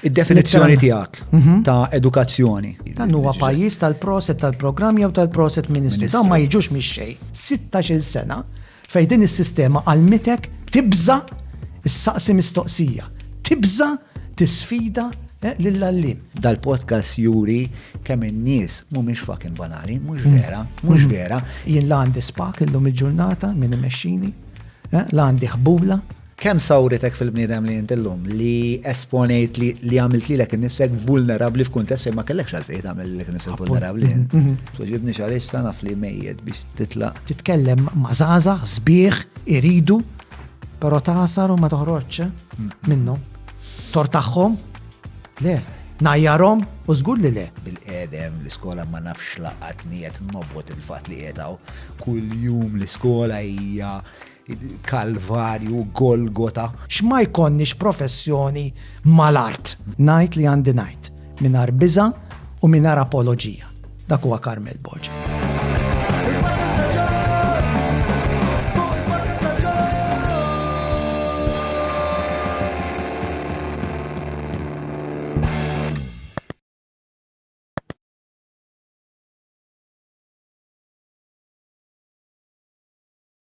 Id-definizzjoni tiegħek ta' edukazzjoni. Dan huwa pajjiż tal-proset tal-programm jew tal-proset ministru. Dawn ma jiġux mix-xejn. 16-il sena fejn din is-sistema għalmitek tibża' issaqsi mistoqsija, tibża' tisfida eh, lill-għallim. Dal-podcast juri kemm in-nies mhumiex fucking banali, mhux mm. vera, mhux mm. vera. Jien l-għandi spak illum il-ġurnata minn imexxini, eh, l-għandi ħbula, Kemm sawritek fil-bniedem li int illum, li esponejt li għamilt lilek innifsek vulnerabbli f'kuntest fejn ma kellekx għalfejn tagħmel lilek innifsek vulnerabbli int. Tweġibnix għaliex sa naf li mejjet biex titlaq. Titkellem ma' żgħażagħ sbieħ iridu però tagħsar u ma toħroġx minnhom. Tortaħhom? Le. Ngħajjarhom? U żgur li le. Bil-qedem l-iskola ma nafx laqatni qed nobgħod il-fatt li qiegħed hawn. Kuljum l-iskola hija Kalvarju, Golgota. X'ma jkollniex professjoni mal-art. Ngħid li għandi ngħid, mingħajr biża' u mingħajr apoloġija. Dak huwa Carmel Boġa.